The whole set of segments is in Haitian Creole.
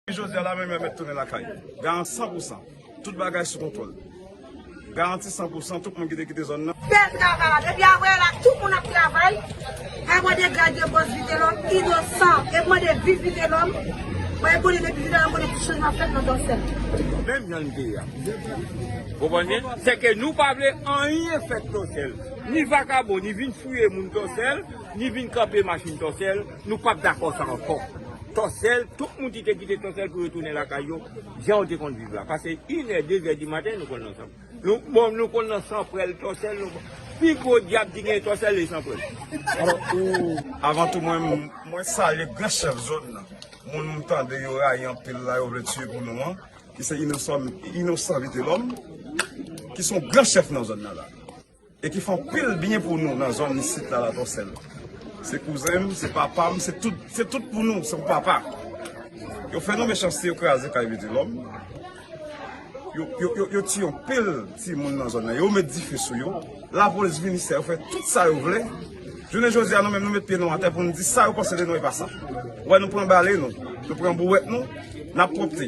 Jodia la menm yo met tounen lakay. Garan 100 pou 100. Tout bagay sou kontwòl. Garanti 100 pou 100 tout moun ki te kite zòn nan. Bèl travay la depi avwe la tout moun ap travay pa mande grad de boss vitelom inosan ep mande viv vitelom mwen ep mande depi vitelom konnen ti chanjman fèt nan dòsèl. Menm jan li te ye a. Ou konprann m? Se ke nou pa vle anyen fèt dòsèl. Ni vakabon ni vin fouye moun dòsèl, ni vin kanpe machin dòsèl. Nou pap dakò sa ankò. Tòsèl, tout moun ki te kite Tòsèl pou yo tounen lakay yo, jan yo te konn viv la. Pase inè, dezè dimaten, nou konn nan San. Bon, nou konn nan San Prèl, Tòsèl, nou konn. Pi gwo dyab ki genyen Tòsèl e San Prèl. Alò, ou. Avan tou mwen, mwen salye gran chèf zòn nan. Moun m tande yo rayi anpil la, yo vle tiye pou nou an. Ki se Inosan, Inosan Vitelòm. Ki son gran chèf nan zòn nan la. E ki fè anpil byen pou nou nan zòn isit la la Tòsèl. Se kouzen m, se papa m, se tout, se tout pou nou, se pou papa. Yo fè nou mechanste, yo kraze kay Vitelòm. Yo, yo, yo, yo tiye anpil timoun nan zòn nan. Yo met dife sou yo. Lapolis vini sa yo fè tout sa yo vle. Jounen jodi a nou menm nou met pye nou atè pou nou di sa yo panse de nou e pa sa. Ou wè nou pran bale nou, nou pran bouwèt nou, n ap pwòpte,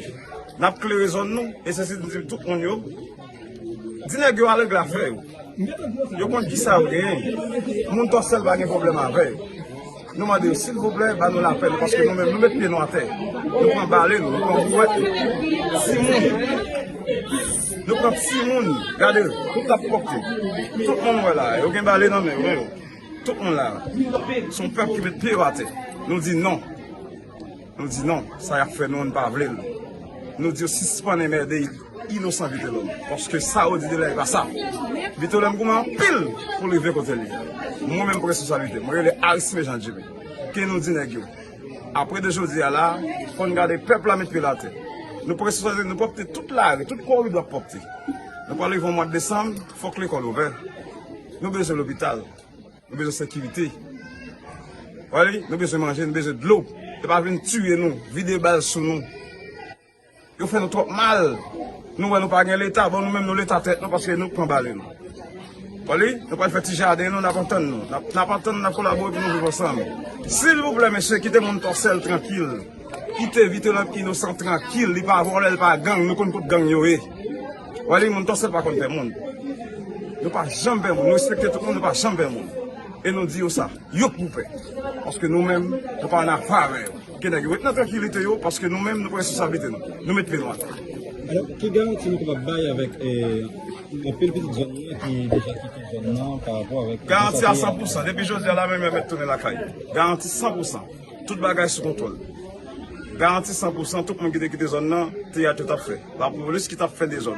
n ap klere zòn nou e sesi n di tout moun yo. Di nèg yo al regle afè yo. Yo konn kisa yo genyen. Moun Tòsèl pa gen pwoblèm avè yo. Nou mande yo silvouplè ba nou lapè nou paske nou menm nou met pye nou atè. Nou pran bale nou, nou pran bouwèt nou. Timoun, nou pran timoun. Gade yo, tout la pwòpte. Tout moun wè la, yo gen bale nan men yo. Tout moun la. Son pèp ki met pye yo atè. Nou di non. Nou di non, sa yap fè nou an nou pa vle l. Nou di yo sispann enmède inosan Vitelòm, paske sa yo di de la e pa sa. Vitelòm goumen anpil pou l rive kote l ye. Mwen menm pou responsablite, mwen rele Aristide Jean Jerry, ke nou di nèg yo, apre de jodi a la, fò n gade pèp la met pye l atè. Nou pou responsablite, nou pwòpte tout lari, tout koridò ap pwòpte. Nou pral rive yon mwad desanm, fòk lekòl ouvè. Nou bezwen lopital. Nou bezwen sekirite. Wale, nou bezwen manje, nou bezwen dlo. Yo pa vin tiye nou, vide bal sou nou. Yo fè nou twòp mal. Nou wè nou pa gen leta, bon nou menm nou leta tèt nou paske nou pran bale nou. Wale, nou pral fè ti jaden nou, n ap antann nou. N ap antann nou, n ap kolabore pou nou viv ansanm. Silvouplè mesye, kite moun Tòsèl trankil. Kite vitelòm inosan trankil li pa vòlè li pa gang nou konn kot gang yo ye wè li moun tòsèl pa konn pè moun nou pa janm pè moun nou respekte tout moun nou pa janm pè moun e nou di yo sa yo k pou pè paske nou menm nou pa nan pa avè yo ke nèg yo ret nan trankilite yo paske nou menm nou pran resosablite nou nou met pye nou atè. Alò ki garanti nou kapab bay avèk anpil pitit zòn nou an ki deja kite zòn nan pa rapò avèk. Garanti a 100 pousan depi jodi a la menm yo mèt tounen lakay yo garanti 100 pousan. Tout bagay sou kontwòl. Garanti san pou san tout moun ki te kite zòn nan, teyat yo t ap fè. Lapolis ki t ap fè dezòd.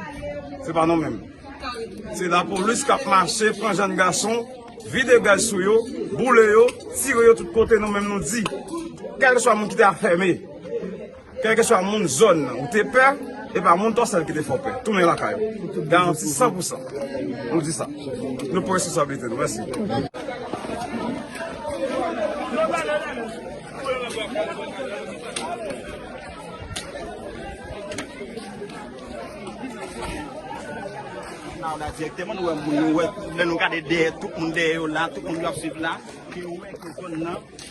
Se pa nou menm. Se lapolis k ap mache pran jenn gason, vide gaz sou yo, boule yo, tire yo tout kote nou menm nou di. Kèlkeswa moun ki te afème. Kèlkeswa moun zòn nan ou te pè, epa moun Tòsèl ki te fè w pè. Tounen lakay ou. Garanti san pou san. Nou di sa. Nou pran responsablite nou. Mèsi.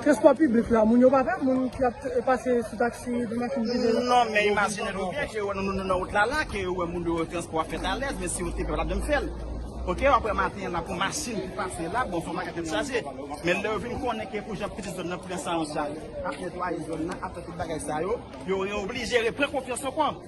Transpò piblik la, moun yo pa pè? Moun ki ap pase sou taksi, sou machin ki gen. Non, men imajine nou byen ke yo wè nou nan wout la la, ke yo wè moun yo transpò ap fèt alèz, men si yo te pè yo tap janm fèl. Ok, wap wè maten an la pou machin ki pase la, bon fò maten tèt chaje. Men lè yo vin konnen ke pou jan pitit zòn nan pran sa an chaj, ap netwaye zòn nan, ap fè tout bagay sa yo, yo reoblije repran konfyans ankò.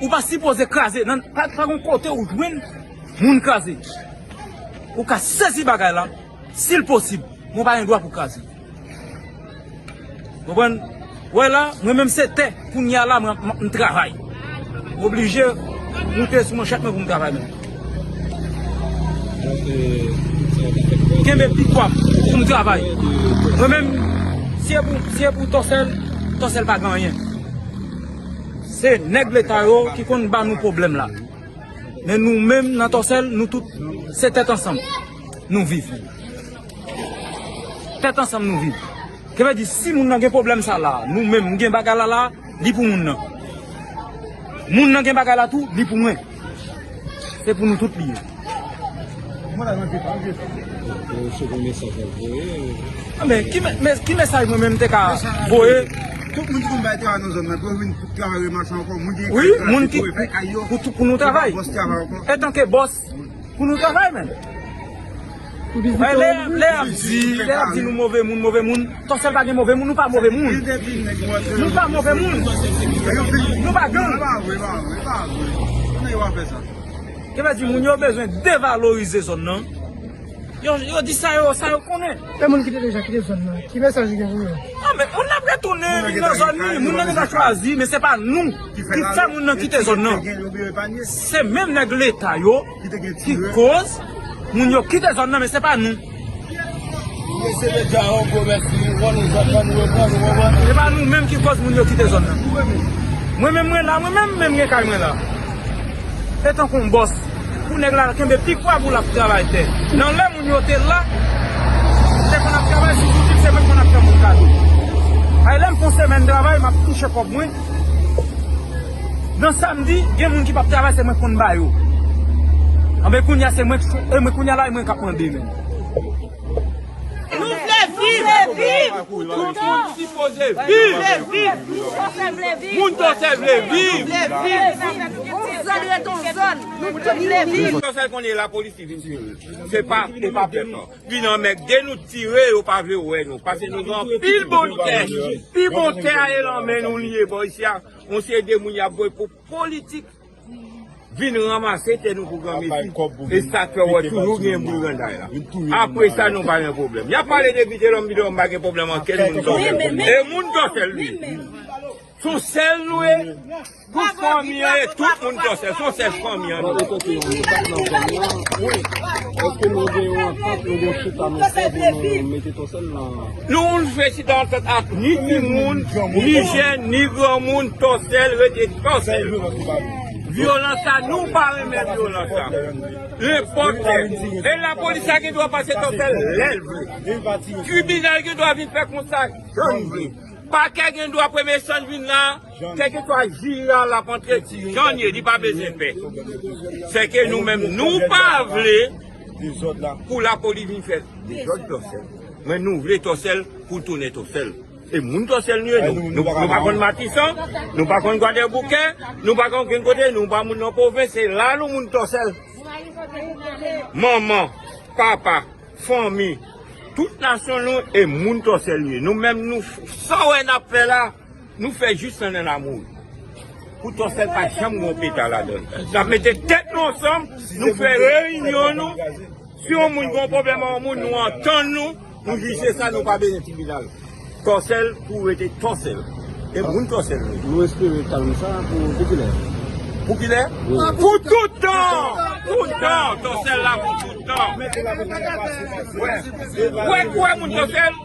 Ou pa sipoze kraze nan pa gon kote ou jwenn moun kraze. Ou ka sezi bagay la sil posib men ou pa gen dwa pou kraze. Konprann? Ou wè la mwen menm se tè kounya la mwen travay. M oblije moute sou manchèt mwen pou m travay menm. Kenbe pi pwa m pou m travay. Mwen menm si e pou tòsèl, tòsèl pa gen anyen. Se nèg leta yo ki konn ba nou pwoblèm la. Men nou menm nan Tòsèl nou tout se tèt ansanm nou viv. Tèt ansanm nou viv. Sa vle di si moun nan gen pwoblèm sa la, nou menm m gen bagay la la, li pou moun nan. Moun nan gen bagay la tou, li pou mwen. Se pou nou tout li ye. Men ki mesaj mwen menm te ka voye. Wi moun ki pou nou travay. Etanke bòs pou nou travay men. Lè ap di, lè ap di nou move moun, move moun, Tòsèl pa gen move moun, nou pa move moun. Nou pa move moun. Nou pa gang. Yo pa di moun yo bezwen devalorize zòn nan. Yo di sa yo, sa yo konnen. E moun ki te deja kite zòn nan, ki mesaj ou gen pou yo? A men, moun ap retounen vin nan zòn li, moun nan deja chwazi, men se pa nou ki fè moun nan kite zòn nan. Se menm nèg leta yo. Ki koz Moun yo kite zòn nan men se pa nou. Se pa nou menm ki koz moun yo kite zòn nan. Mwen menm mwen la mwen menm men gen kay mwen la. Se tankou yon bòs pou nèg la kenbe pi kwa pou l ap travay tè. Nan lè moun yo te la m te konn ap travay sou zouti m se mwen ki konn ap fè moun kado. Ay lè m fon semèn travay m ap touche kòb mwen. Nan sam di gen moun ki pap travay se mwen konn ba yo anben kounya se mwen anben kounya la e mwen kap mande menm. Nou vle viv tout moun sipoze viv moun dòsè vle viv onzòn ret onzòn nou tout vle viv. Yo fè konnen lapolis ki vin tiye yo se pa e pa pèp nan vin anmègde nou tire yo pa vle wè nou pase nou gen anpil bon tè pi bon tè a e lan men nou li ye bò isi a. Yon seri de moun yap voye pou politik vin ranmase tè nou pou gran mesi e sak fè wè toujou gen bri granday la apre sa nou pa gen problem yap pale de vitelom vitelom pa gen problem anken moun dorsel e moun dorsel li ye sou sel nou ye tout fanmi an e tout moun dorsel sou sel fanmi an nou ye Noun frechita an fèt ak ni timoun, ni jèn, ni granmoun, tòsèl rete tòsèl. Vyolans sa nou pa renmen vyolans sa. Nenpòt lè. E lapolis la gen dwa pase tòsèl lè l vle. Tribinal gen dwa vin fè kont sa jan l vle. Pakè gen dwa premye chan l vin la, kèlkeswa jij la l ap antre jan l ye li pa bezwen pè. Sèke nou menm nou pa vle. Dezòd la pou lapoli vin fè dezòd tòsèl men nou vle tòsèl pou tounen tòsèl e moun tòsèl nou ye nou nou pa konn matisan nou pa konn gwadèboukè nou pa konn okenn kote nou pa moun nan pwovens se la nou moun tòsèl manman papa fanmi tout nasyon nou e moun tòsèl nou ye nou menm nou sa wè n ap fè la. Nou fè jus lan nan lamoul. Pou to sèl pa janm gen yon peta ladann. Nap mete tèt nou ansanm, nou fè reyinyon nou. Si yon moun gen yon pwoblèm ak yon moun, nou antann nou, nou jije sa, nou pa bezwen tribinal. To sèl pou rete to sèl. E moun to sèl nou ye. Nou espere kalm sa pou kilè? Pou kilè? Pou tout tan! Pou tan! To sèl la pou tout tan. Ou wè kouwè moun to sèl?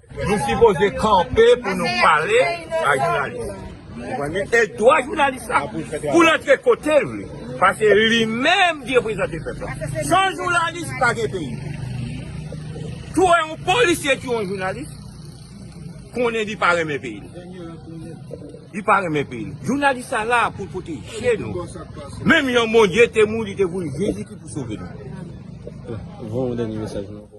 Nou sipoze kanpe pou nou pale ak jounalis. E dwa jounalis la pou l antre kote l vle. Paske li menm ki reprezante pèp la. San jounalis pa gen peyi. Tou e yon polisye tou yon jounalis, konnen li pa renmen peyi l. Li pa renmen peyi l. Jounalis la la pou l pwoteje nou. Menm yon Bondye te mouri, te voye Jezi pou sove nou. Voye yon dènye mesaj nou.